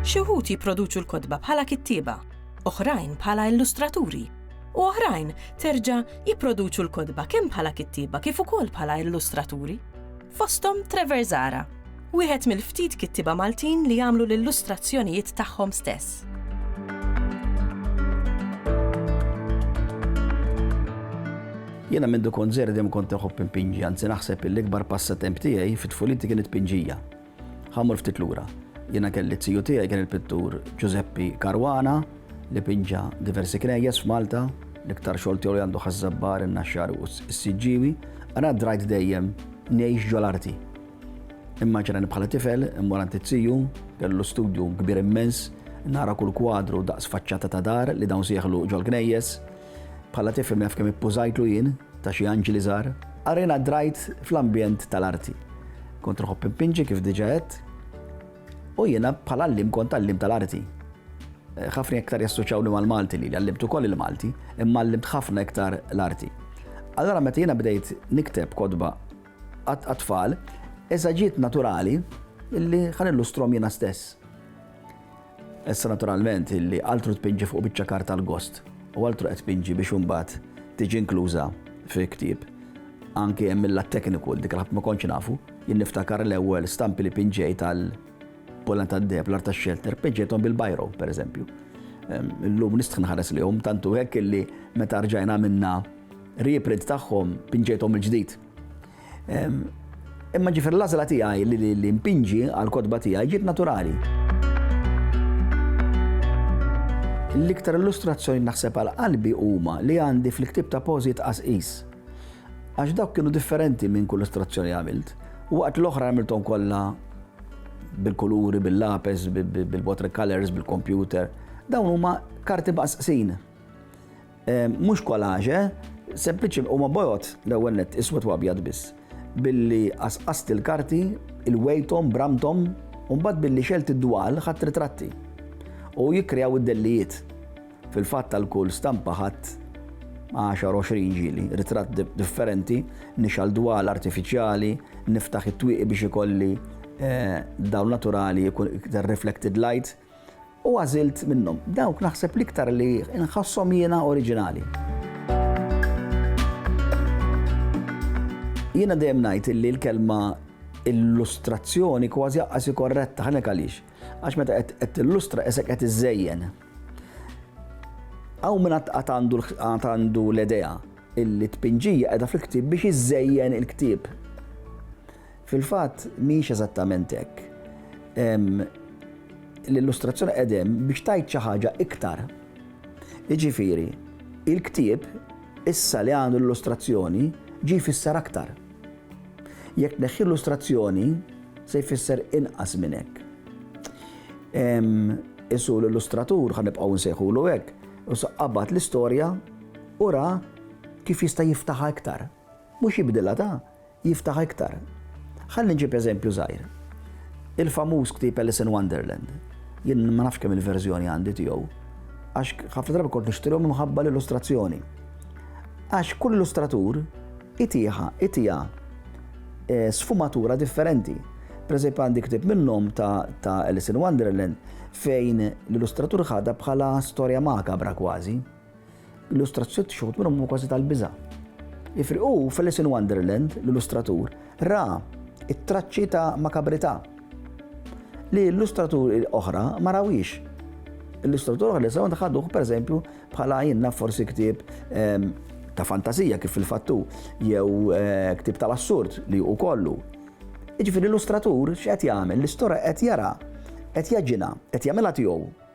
Xi wħud jipproduċu l-kotba bħala kittieba, oħrajn bħala illustraturi, u oħrajn terġa' jipproduċu l-kotba kemm bħala kittieba kif ukoll bħala illustraturi. Fosthom Trevor Zara. Wieħed mill-ftit kittieba Maltin li jagħmlu l-illustrazzjonijiet tagħhom stess. Jena minn dukon zeri dem kont teħu pimpinġi, għanzi naħseb l-ikbar passatemp tiegħi fit-tfuliti kienet pinġija. Ħamur ftit lura. Jena kelli t-siju tiegħi kien il-pittur Giuseppi Karwana li pinġa diversi knejjes f'Malta, l-iktar xogħol tiegħu li għandu ħażżabbar in-naxxar u s-siġġiwi, għana drajt dejjem ngħix ġol-arti. Immaġina li bħala tifel immur għand it-tiju, kellu studju kbir immens, nara kull kwadru daqs faċċata ta' dar li dawn sieħlu ġol-knejjes. Bħala tifel minn kemm ippużajtlu jien ta' xi anġli żgħar. Arena drajt fl-ambjent tal-arti. Kont nħobb impinġi kif diġà għedt, u jiena bħala llim kont tal-llim tal-arti ħafna iktar jassoċawni mal-Malti li għallimt ukoll il-Malti, imma għallimt ħafna iktar l-arti. Allora meta jiena bdejt nikteb kodba għat-tfal, eżaġiet naturali illi ħa nillustrom jiena stess. Issa naturalment illi altru tpinġi fuq biċċa karta l-gost u altru qed tpinġi biex imbagħad tiġi inkluża fi ktieb. Anke hemm mill tekniku dik ħadd ma kontx nafu, jien niftakar l-ewwel stampi li pinġej tal polan tad-deb l arta xelter pinġejthom bil-bajro pereżempju. Illum nistħin ħares li hum tantu hekk illi meta rġajna minna Reprint tagħhom pinġejthom mill-ġdid. Imma ġifier l-għażla tiegħi li npinġi għall-kotba tiegħi ġiet naturali. L-iktar illustrazzjoni naħseb għal qalbi huma li għandi fl-ktieb ta' pożijiet qasqis. Għax dawk kienu differenti minn kull illustrazzjoni għamilt. U waqt l-oħra għamilthom kollha bil-kuluri, bil-lapes, bil-watercolors, bil-computer. Dawn huma karti baqsqsin. Mhux collage, sempliċi huma bojod l-ewwel nett iswed u abjad biss. Billi qasqast il-karti, ilwejthom, bramthom, u mbagħad billi xegħelt id-dwal ħadt ritratti. U jikkreaw id-dellijiet. Fil-fatt għal kull stampa ħadt għaxar għoxrin ġieli, ritratt differenti, nixgħal dwal artifiċjali, niftaħ it-twieqi biex ikolli dawl naturali, reflected light, U għażilt minnhom dawk naħseb l-iktar li nħasshom jiena oriġinali. Jiena dejjem ngħid illi l-kelma illustrazzjoni kważi aqqas korretta ħanek għaliex. Għax meta qed tillustra isek qed iżejjen. Hawn minn qatt għandu l-idea illi tpinġija qiegħda fil-ktieb biex iżejjen il-ktieb. Fil-fatt, mhijiex eżattament hekk. L-illustrazzjoni qegħda hemm biex tgħid xi ħaġa iktar. Jiġifieri, il-ktieb, issa li għandu l-illustrazzjoni, ġie jfisser aktar. Jekk tneħħi l-illustrazzjoni, se jfisser inqas minn hekk. Isu l-illustratur, ħa nibqgħu nsejħulu hekk, u saqqabat l-istorja u ra kif jista' jiftaħha iktar. Mhux jibdilha ta' jiftaħ iktar. Ħalli nġib eżempju żgħir. Il-famuż ktieb Alice in Wonderland. Jien ma nafx kemm il-verżjoni għandi tiegħu. Għax ħafna drabi kont nixtrilhom imħabba l-illustrazzjoni. Għax kull illustratur itiħa, itiha eh, sfumatura differenti. Per eżempju għandi ktib minnhom ta', ta Alice in Wonderland fejn l-illustratur ħadha bħala storja makabra kważi. Illustrazzjoni xħut minnhom huma kważi tal-biża'. Ifriqu f'Alice in Wonderland l-illustratur ra it-traċċi ta' makabrità li illustraturi oħra ma rawiex. Illustratur oħra li sew ħaduh pereżempju bħala jinna forsi ktieb ehm, ta' fantasija kif fil-fattu jew eh, ktieb tal-assurd li hu kollu. Iġifieri l-illustratur x'qed jagħmel? L-istorja qed jara, qed jaġina, qed jagħmilha tiegħu.